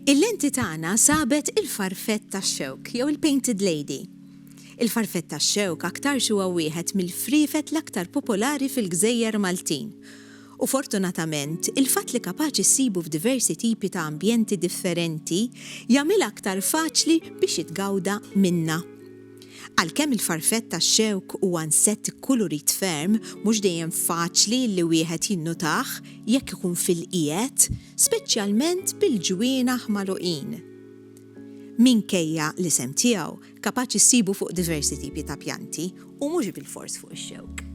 Il-lenti tagħna sabet il-farfett tax-xewk jew il-painted lady. Il-farfett tax-xewk aktarx huwa wieħed mill-friefet l-aktar popolari fil-gżejjer Maltin. U fortunatament, il-fatt li kapaċi ssibu f'diversi tipi ta' ambjenti differenti jagħmilha aktar faċli biex jitgawda minnha. Għalkemm il-farfett tax-xewk huwa nsett ikkulurit ferm, mhux dejjem faċli li wieħed jinnotah jekk ikun fil-qiegħed, speċjalment bil-ġwienaħ magħluqin. Minkejja l-isem tiegħu, kapaċi ssibu fuq diversi tipi ta' pjanti, u mhux bilfors fuq ix-xewk.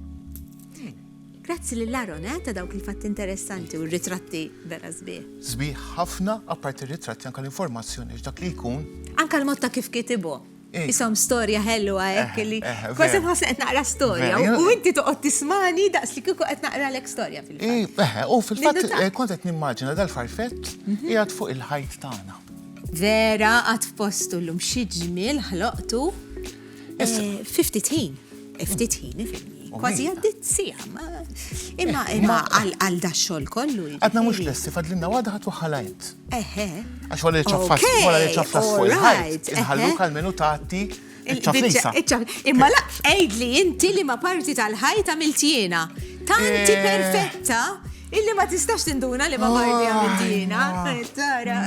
Grazzi lil Aaron ta' dawk il-fatti interessanti u r-ritratti vera sbieħ. Sbieħ ħafna, apparti r-ritratti anke l-informazzjoni x'dak li jkun. Anke l-mod ta' kif kitibhom. Isom storja ħelwa hekk eh, li eh, kważi nħoss qed naqra storja u inti toqgħod tismani daqs li kieku qed naqra lek storja fil-fatt. Eh, u fil-fatt eh, kont qed nimmaġina dal-farfett mhm. qiegħed fuq il-ħajt tagħna. Vera għad f'postu llum xi ġmiel ħloqtu 50 ħin. 50 ħin Kważi għaddit sija, imma imma għal da xol kollu. Għadna mux lessi, fadlinna għadħat u ħalajt. Eħe. Għax wara li ċaffat, wara li ċaffat fuq il-ħajt, inħalluk għal-menu tagħti ċafflisa. Imma la, għid li inti li ma parti tal-ħajt għamilt jiena. Tanti eh. perfetta illi ma tistax tinduna li ma parti għamilt jiena. Tara.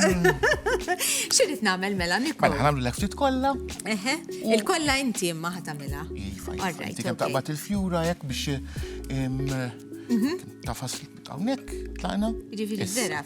Xirrit namel mela nikku. Mela ħanamlu l ftit kolla. Eħe, il-kolla inti imma ħatamela. Iva, iva. Tikem taqbat il-fjura jek biex mhm. tafas tawnek, tlaqna. Ġifiri vera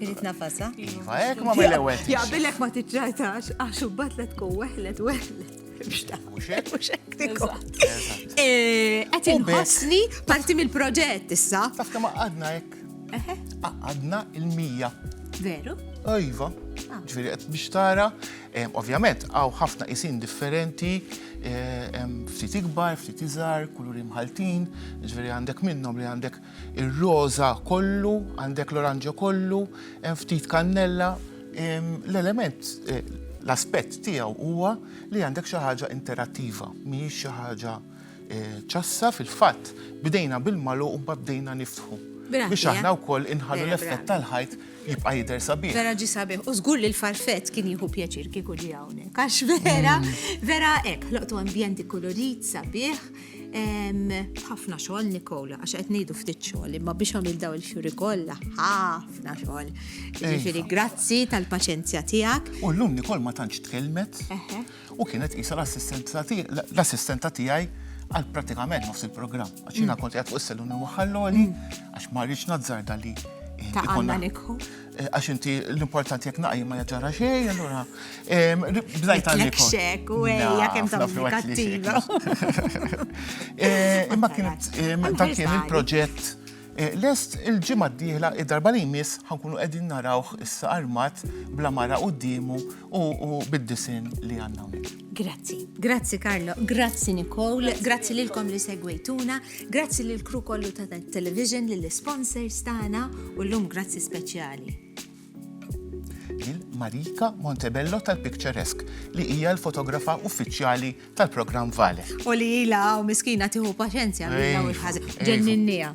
Irrit nafasa. Iva, ek ma mill-ewel. Jaqbilek ma tiċċajtax, għax u batlet ku weħlet, weħlet. Muxek? Muxek, tikko. Għet inħosni parti mill-proġett issa. Taf kama għadna ek. Għadna il-mija. Veru? Iva. Ah. Ġviri, għet biex tara, ovvjament, għaw ħafna isin differenti, ftit ikbar, ftit iżar, kulur imħaltin, ġviri għandek minnom li għandek Ir-roża kollu, għandek l-oranġo kollu, hemm ftit kannella. L-element, l-aspett tiegħu huwa li għandek xi ħaġa interattiva, mhijiex xi ħaġa ċassa. Fil-fatt, bdejna bil-magħluq u mbagħad bdejna niftħu. Biex eh? aħna wkoll inħallu l-effett tal-ħajt jibqa' jidher sabiħ. Vera ġi sabiħ. U żgur li l-farfett kien jieħu pjaċir kieku ġi hawnhekk. Għax vera, mm. vera hekk, ħloqtu ambjenti kolorit sabiħ. ħafna xogħol Nikola, għax qed ngħidu ftit xogħol, imma biex għamil daw il-fjuri kollha, ħafna xogħol. Ġifieri grazzi tal-paċenzja tiegħek. U llum Nikol ma tantx tkellmet u kienet qisha l-assistenta tiegħi għal pratikament nofs il-programm. Għax jiena mm. kont qed fuq is-seluni waħħalloli mm. għax ma rridx nazzarda li. Ta' Nikol. għax inti l-importanti jek naqi ma jaġara xej, allura. Bdajt għalli. Xek, u għajja kem ta' kattiva. Eh, imma kien ta' kien il-proġett. Eh, lest il-ġimma d-dihla id-darba li jmiss ħankunu għedin narawħ issa armat bla mara u d-dimu u bid-disin li għanna Grazzi. Grazzi Karlo, grazzi Nicole, grazzi lilkom li segwejtuna, grazzi lil kru kollu ta' television, lill sponsors tagħna u llum grazzi speċjali. Lil Marika Montebello tal-Picturesque li hija l-fotografa uffiċjali tal-programm Vale. U li ila hawn miskina tieħu paċenzja mill-ewwel ħażin. Ġenninnija.